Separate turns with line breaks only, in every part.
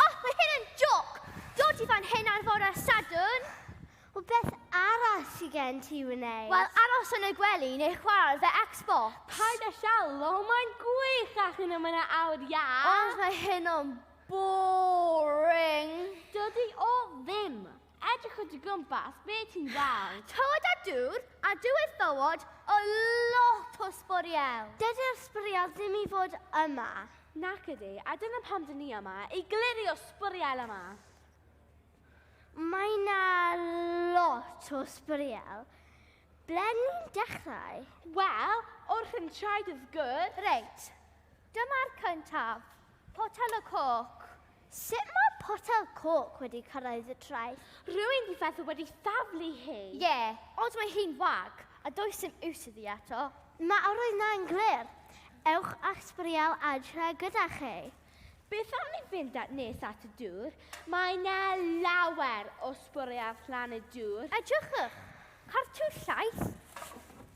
Oh, mae hyn yn joc! Dod i fan hyn ar fore Sadwn? O beth
arall sy'n gen ti wneud? Wel, aros yn y
gwely neu chwarae fe Xbox. Paid a siallo,
mae'n gwych ac yna mae'n awr ia. Ond mae hyn o'n
boring. Dydy
o ddim. Edrych o dy gwmpas, be ti'n weld? Tywod a dŵr,
a dywydd bywod o lot o sbwriel. Dydy'r sbwriel
ddim i fod yma. Nac ydy,
a dyna pam dyn ni yma, i glirio sbwriel yma. Mae
na lot o sbwriel. Ble ni'n dechrau? Wel,
wrth yn traed wrth gwrs. Reit,
dyma'r cyntaf. Potel y coc. Sut mae
potel coc wedi cyrraedd y traeth? Rwy'n di feddwl wedi
thaflu hi. Ie, yeah, ond mae
hi'n wag, a does dim iws iddi eto. Mae yr oedd na'n
glir. Ewch a'ch sbwriel adre gyda chi. Beth am ni
fynd at nes at y dŵr? Mae yna lawer o sbwriel flan y dŵr. Edrychwch!
Cartw llaeth,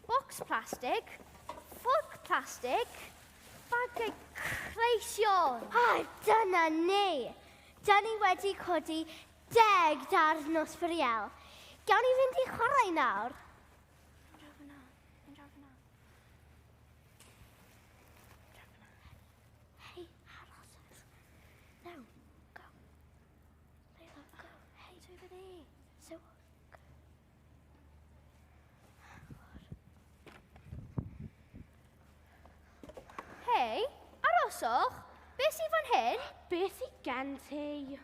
bocs plastig, ffwrc plastig, Bagiau creision! A dyna
ni! Da ni wedi codi deg darn nos fwriel. Gawn ni fynd i chwarae nawr?
Hei, aroswch. Beth sy'n fan hyn? Beth sy'n gen
ti?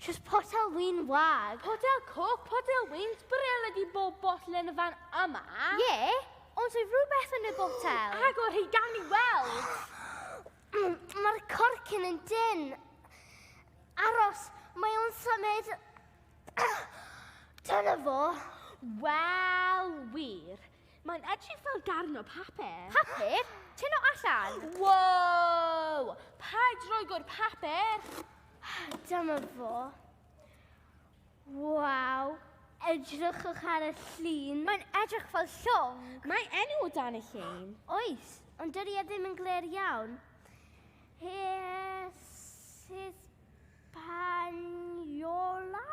Just potel wyn wag. Potel coc,
potel wyn, sbrel ydi bob botl yn y fan yma. Ie, yeah,
ond sy'n rhywbeth yn y botel. Agor hi gan ni
weld. Mm,
mae'r corcyn yn dyn. Aros, mae o'n symud Dyna fo. Wel,
wir. Mae'n edrych fel darn o papur. Papur? Tyn
o allan. Wow!
Paid roi gwr papur. Dyma
fo. Wow. Edrychwch ar y llun. Mae'n edrych fel
llong. Mae enw o dan
y llun. Oes, ond dydy
e ddim yn glir iawn. Yes, yes, Spaniola?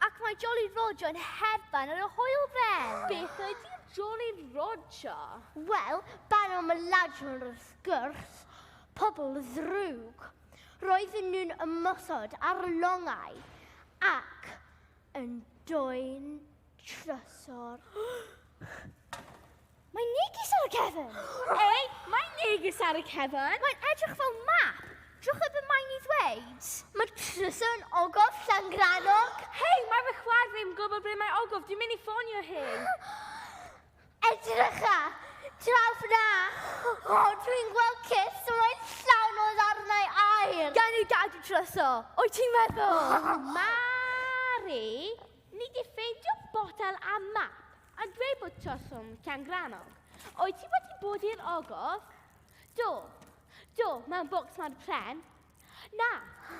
Ac mae
Jolly Roger yn hedfan ar y hwyl fel. Beth ydy
Jolly Roger? Wel,
ban o myladron o'r sgwrs, pobl ddrwg. Roedden nhw'n ymosod ar longau ac yn doen trysor.
Mae neges ar y cefn! Ei, mae
neges ar y cefn! Mae'n edrych fel
map! Drwch y mae'n i ddweud! Mae trysau
yn ogof Llangrannog! Hei, mae fy
chwaer fi'n gwybod ble mae ogof, dwi'n mynd i ffonio hyn! Edrycha!
Draw fyna! O, dwi'n gweld cys, mae'n llawn o ddarnau air! Gan ei gadw
tryso! O'i ti'n meddwl? Mari,
ni di ffeindio botel a map. A dweud bod Troswm Llangrannog. Wyt ti wedi bod i'r ogof? Do. Do, mewn bocs mor pren. Na,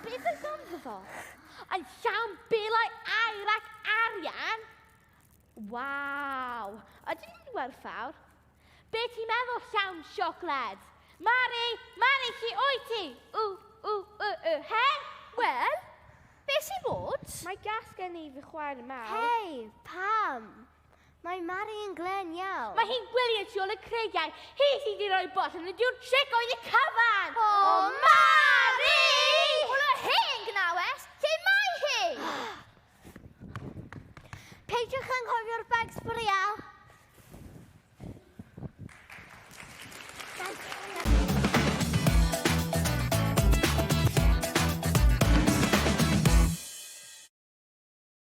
beth oedd ganddo fo? Yn llawn belau air ac arian! Waw! Ydyn nhw'n werthfawr? Be ti'n meddwl llawn siocled? Mari, Mari, chi o'i ti? U, u, u, u, hen? Wel,
be sy'n bod? Mae gas gen i
fy chwaer mawr. Hei, pam?
Mae Mari yn glen iawn. Mae hi'n gwylio tu ôl y
creigiau. Hi sydd wedi rhoi bot yn y diwr tric oedd y cyfan! O,
Mari!
Hwna
hen gnawes! Lle mae hi?
Peidiwch
anghofio'r bags
bwriel.